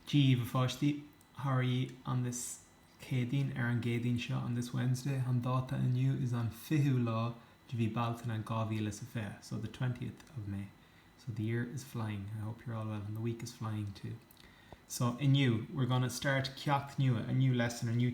Díobh, a pháistí, How are ye on this Céadaoin, ar an gCéadaoin seo, on this Wednesday, an dáta inniu, is an fichiú lá de mhí Bealtaine, dhá mhíle is a fiche, so, the twentieth of May. So, the year is flying. I hope you're all well, and the week is flying too. So, inniu, we're gonna start ceacht nua, a new lesson, a new.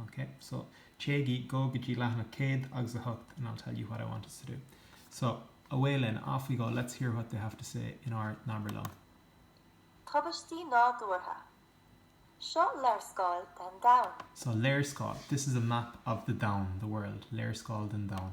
OK, so, téigí, go, go dtí leathanach 108 and I'll tell you what I want us to do. So, away linn, off we go, let's hear what they have to say in ár nAbair Liom. Tubaistí nádúrtha. Seo léarscáil den domhan. So, léarscáil, this is a map of the domhan, the world. Léarscáil den domhan.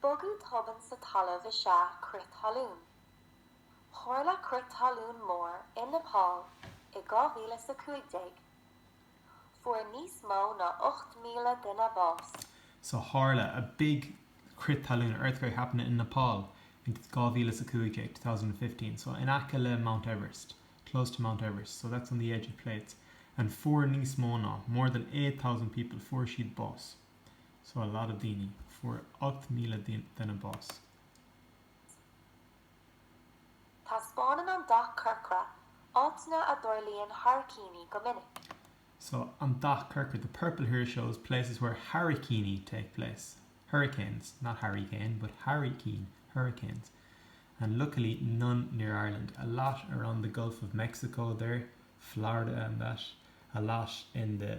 Bogadh tobann sa talamh is ea crith talún. Tharla crith talún mór i Nepal i 2015. Fuair níos mó ná 8,000 duine bás. So tharla, a big, crith talún, a earthquake happened in Nepal in 2015, 2015. So in aice le Mount Everest, close to Mount Everest. So that's on the edge of plates. And fuair níos mó ná, more than eight thousand people, fuair siad bás. so a lot of daoine, fuair 8,000 duine bás. Taispeánann an dath corcra áiteanna a dtarlaíonn hairicíní go minic. So an dath corcra, the purple here shows places where hairicíní take place, hurricanes, not Harry Kane, but hairicín, hurricanes. And luckily none near Ireland, a lot around the Gulf of Mexico there, Florida and that, a lot in the.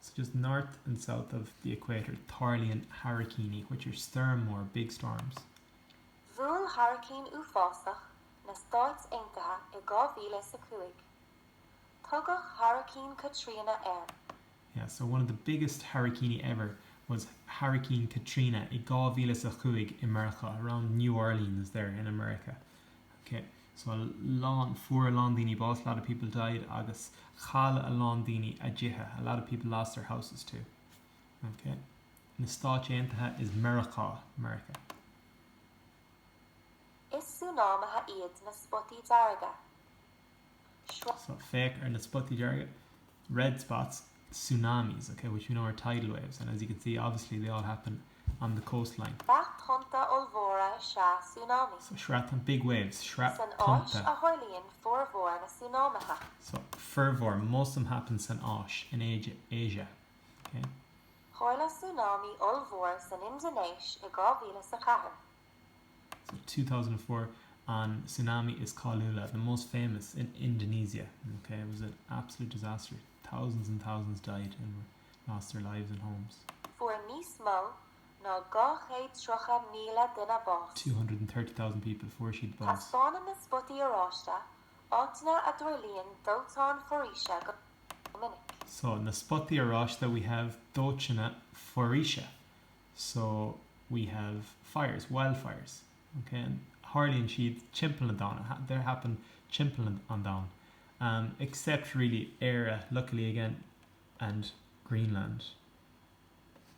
So just north and south of the equator tarlaíonn hairicíní which are stoirm mór, big storms. Bhuail hairicín uafásach na Stáit Aontaithe i dhá mhíle is a cúig. Tugadh Hairicín Katrina air. Yeah, so one of the biggest hairicíní ever was Hairicín Katrina i dhá mhíle is a cúig i Meiriceá, around New Orleans there in America. Ok, so a lán, fuair a lán daoine bás, a lot of people died agus chaill a lán daoine a dtithe, a lot of people lost their houses too. Ok, na Stáit Aontaithe is Meiriceá, America. Is súnámaithe iad na spotaí dearga. So, féach ar na spotaí dearga, red spots, tsunamis, ok, which we know are tidal waves and as you can see, obviously, they all happen on the coastline. Sraith tonnta ollmhóra is ea súnámaí. So, sraith tonnta, big waves, sraith tonnta. San Áis a tharlaíonn formhór na súnámaithe. So, formhór, most of them happen san Áis, in Asia, ok. Tharla súnámaí ollmhór san Indinéis i 2004. 2004 an tsunami is cáiliúla the most famous in Indonesia ok it was an absolute disaster thousands and thousands died and lost their lives and homes. fuair níos mó ná dhá chéad tríocha míle duine bás. 230,000 people fuair siad bás. Taispeánann na spotaí oráiste áiteanna a dtarlaíonn dóiteáin foraoise go minic. So, na spotaí oráiste we have dóiteáin foraoise So, we have fires, wildfires, ok, and tharlaíonn siad timpeall na domhaine, they happen timpeall an domhain, em, except, really, Éire, luckily again, and Greenland.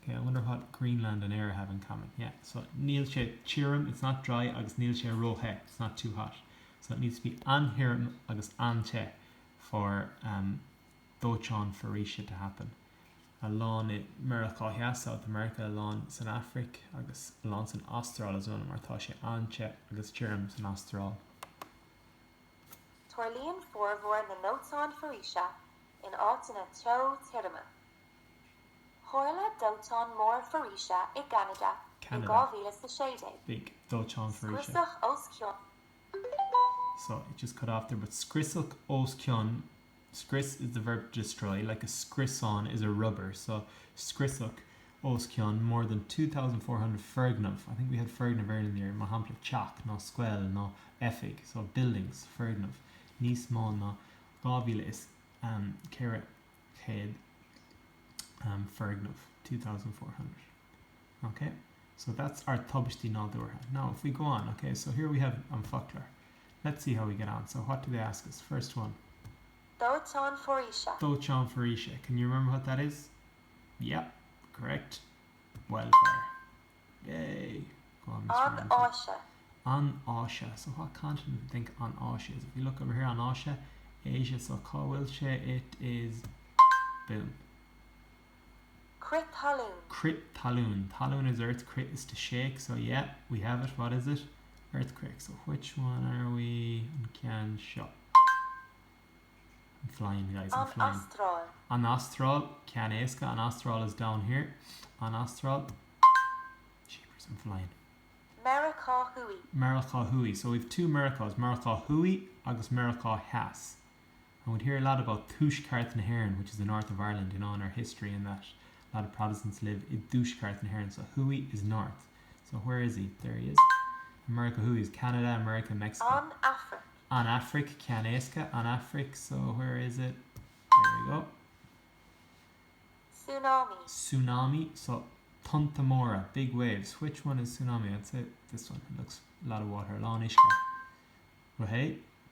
Ok, I wonder what Greenland and Éire have in common, yeah, so níl sé tirim, it's not dry, agus níl sé ró-the, it's not too hot. So it needs to be an-thirim agus an-te for, em, dóiteán foraoise to happen. a lán i Meiriceá Theas, South America, a lán san Afraic agus a lán san Astráil as well mar tá sé an-te agus tirim san Astráil. Tarlaíonn formhór na ndóiteán foraoise in áiteanna teo tirime. Tharla dóiteán mór foraoise i gCeanada i 2016. big dóiteán foraoise. Scriosadh os cionn. so it just cut off there but scriosadh os cionn scrios is the verb to destroy, like a scriosán is a rubber, so scriosadh os cionn more than two thousand four hundred foirgneamh, I think we had foirgneamh earlier in the year, mar shampla teach nó scoil nó oifig, so buildings, foirgneamh, níos mó ná dhá mhíle is ceithre chéad foirgneamh, two thousand four hundred. Ok, so that's our tubaistí nádúrtha. Now, if we go on, ok, so here we have an focloir. Let's see how we get on. So, what do they ask us? First one. Dóiteán foraoise. Dóiteán foraoise. Can you remember what that is? Yep, correct. Wildfire. Yay. Go on, Mr. An Áise. An Áise. So, what continent do you think An Áise is? If you look over here, An Áise, Asia, so cá bhfuil sé? It is... Boom. Crith talún. Crith talún. Talún is earth, crith is to shake, so yeah, we have it, what is it? Earthquake, so which one are we? An ceann seo. I'm flying, guys, I'm flying. An Astráil. An Astráil, ceann éasca, an Astráil is down here. An Astráil. Jeepers, I'm flying. Meiriceá Thuaidh. Meiriceá Thuaidh, so we've two Meiriceás, Meiriceá Thuaidh agus Meiriceá Theas. and would hear a lot about Tuaisceart na hÉireann which is the North of Ireland you know in our history and that a lot of Protestants live i dTuaisceart na hÉireann so thuaidh is north so where is he? there he is America thuaidh is Canada America Mexico An Afraic. An Afraic ceannéasca An Afraic so where is it? there we go Súnámaí. Súnámaí so tonnta móra big waves which one is Súnámaí? I'd say this one it looks a lot of water a lán uisce well hey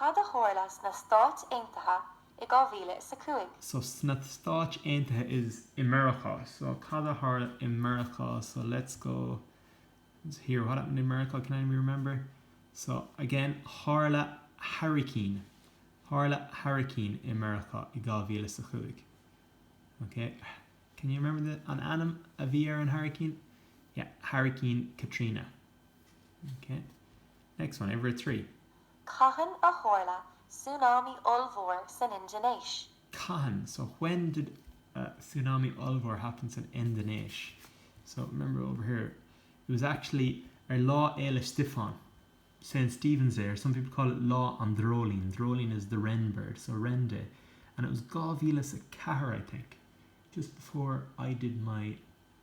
Cad a tharla sna Stáit Aontaithe i 2005? so sna Stáit Aontaithe is i Meiriceá so cad a tharla i Meiriceá so let's go here what happened in Meiriceá can anybody remember so again tharla hairicín tharla hairicín i Meiriceá i dhá mhíle is a cúig ok can you remember the an ainm a bhí ar an hairicín yeah hairicín Katrina ok next one uimhir a trí Cathain a tharla súnámaí ollmhór san Indinéis? Cathain, so, when, did súnámaí ollmhór happen san Indinéis? So, remember over here, it was actually ar Lá Fhéile Stiofáin, St. Stephen's Day, or some people call it Lá an Dreoilín, dreoilín is the wren bird, so wren day, and it was dhá mhíle is a ceathair, I think, just before I did my.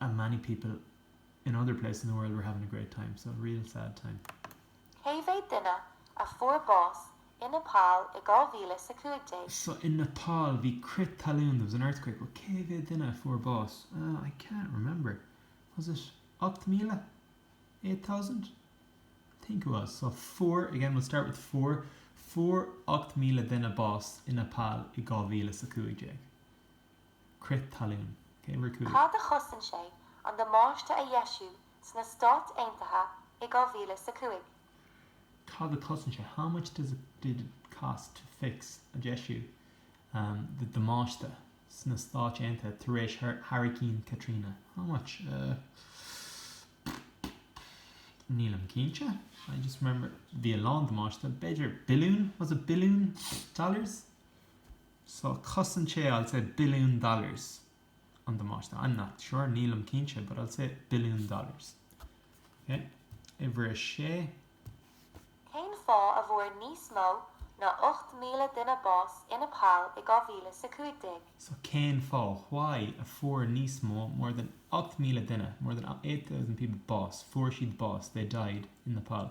and many people in other places in the world were having a great time, so real sad time. Cé mhéad duine a fuair bás i Nepal i 2000 is 15? So in Nepal bhí crith talún, there was an earthquake, but cé mhéad duine a fuair bás? Oh, I can't remember. Was it 8,000? Eight thousand? I think it was. So fuair, again we'll start with fuair, fuair 8,000 duine bás i Nepal i 2000 is 15. Crith talún. Okay, we're cool. Cad a chosain sé an damáiste a dheisiú sna Stáit Aontaithe i dhá mhíle is a cúig? Cad a chosain sé? How much did it cost to fix, a dheisiú, the damáiste sna Stáit Aontaithe tar éis Hairicín Katrina? How much? Ahh. Nílim cinnte. I just remember bhí a lán damáiste. B'fhéidir billiún? Was it billiún dollars? So chosain sé, I'll say, billiún dollars an damáiste. I'm not sure, nílim cinnte, but I'll say billiún dollars. Okay? Uimhir a sé. Cén fáth a bhfuair níos mó ná 8,000 duine bás i Nepal i 2015? So cén fáth, why, a fuair níos mó, more than 8,000 duine, more than 8,000 people bás, fuair siad bás, they died, in Nepal,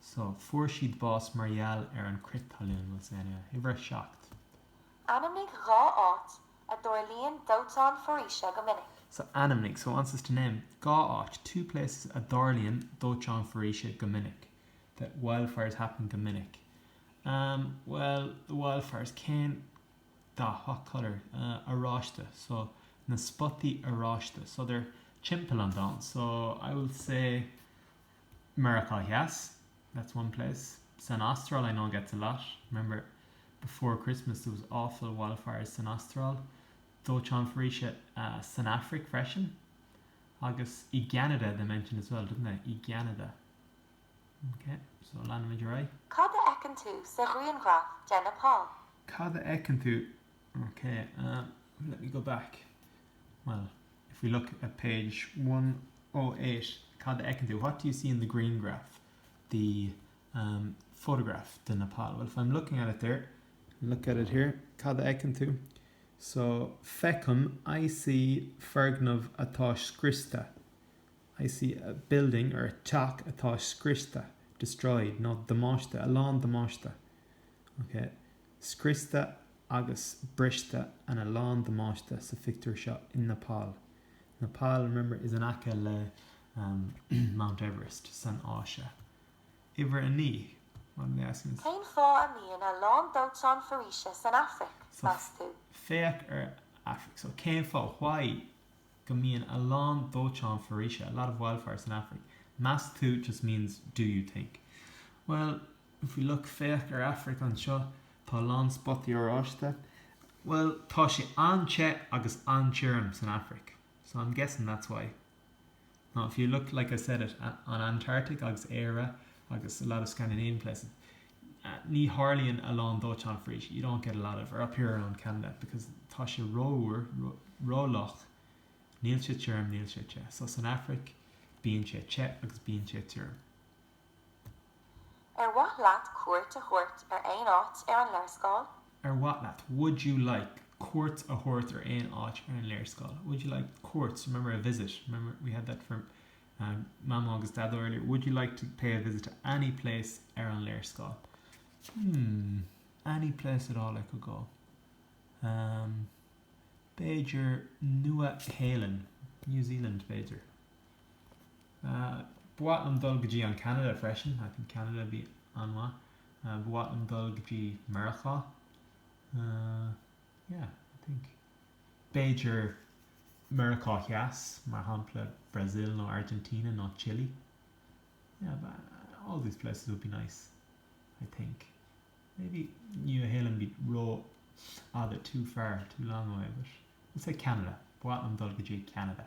So, fuair siad bás mar gheall ar an crith talún, we'll say anyway. Uimhir 7. Ainmnigh dhá áit a dtarlaíonn dóiteáin foraoise go minic. So, ainmnigh, so, it wants us to name, dhá áit, two places, a dtarlaíonn dóiteáin foraoise go minic, that wildfires happen go minic. Um, well, the wildfires, cén dath, what colour, uh, oráiste, so, na spotaí oráiste, so, they're timpeall an domhain, so, I will say, Meiriceá Theas, that's one place. San Astráil, I know it gets a lot. Remember, before Christmas there was awful wildfires san Astráil. Dóiteáin foraoise san Afraic freisin. Agus i gCeanada, they mentioned as well, didn't they? I gCeanada. Ok, so leanfaimid ar aghaidh. Cad a fheiceann tú sa ghrianghraf de Nepal? Cad a fheiceann tú Ok umm let me go back Well if we look at page one oh eight cad a fheiceann tú? What do you see in the green graph? The umm photograph de Nepal Well if I'm looking at it there look at it here cad a fheiceann tú? So feicim I see foirgneamh atá scriosta I see a building or a teach atá scriosta destroyed nó damáiste a lán damáiste Ok. scriosta agus briste and a lán damáiste sa phictiúr seo in Nepal, Nepal, remember, is in aice le Mount Everest san Áise. Uimhir a naoi, what are they asking us? Cén fáth a mbíonn a lán dóiteáin foraoise san Afraic, meas tú? So, féach ar Afraic. So, cén fáth, why, go mbíonn a lán dóiteáin foraoise, a lot of wildfires, san Afraic? Meas tú just means do you think. Bhuel. If we look, féach, ar Afraic anseo, tá a lán spotaí oráiste. Bhuel, tá sé an-te agus an-tirim san Afraic, so I'm guessing that's why. Now if you look, like I said it, at an Antarctic agus Éire agus a lot of Scandinavian places, ní tharlaíonn a lán dóiteáin foraoise, you don't get a lot of, or up here around Canada, because tá sé rófhliuch, níl sé tirim, níl sé te. So san Afraic, bíonn sé te agus bíonn sé tirim. Ar mhaith leat cuairt a thabhairt ar aon áit ar an léarscáil? Ar mhaith leat, Would you like, cuairt a thabhairt ar aon áit ar an léarscáil? Would you like cuairt, remember a visit, remember we had that for um, Mamó agus Daideo earlier. Would you like to pay a visit to any place ar an léarscáil? Hmm, any place at all I could go. Um, b'fhéidir Nua Shéalainn, New Zealand b'fhéidir. Ba mhaith liom dul go dtí an Canada freisin. I think Canada would be an-mhaith. Ba mhaith liom dul go dtí Meiriceá. Yeah, I think. B'fhéidir Meiriceá Theas, mar shampla Brazil nó Argentina nó Chile. Yeah, but all these places would be nice, I think. Maybe Nua Shéalainn be rófhada, too far, too long away, but we'll say Canada. Ba mhaith liom dul go dtí Canada.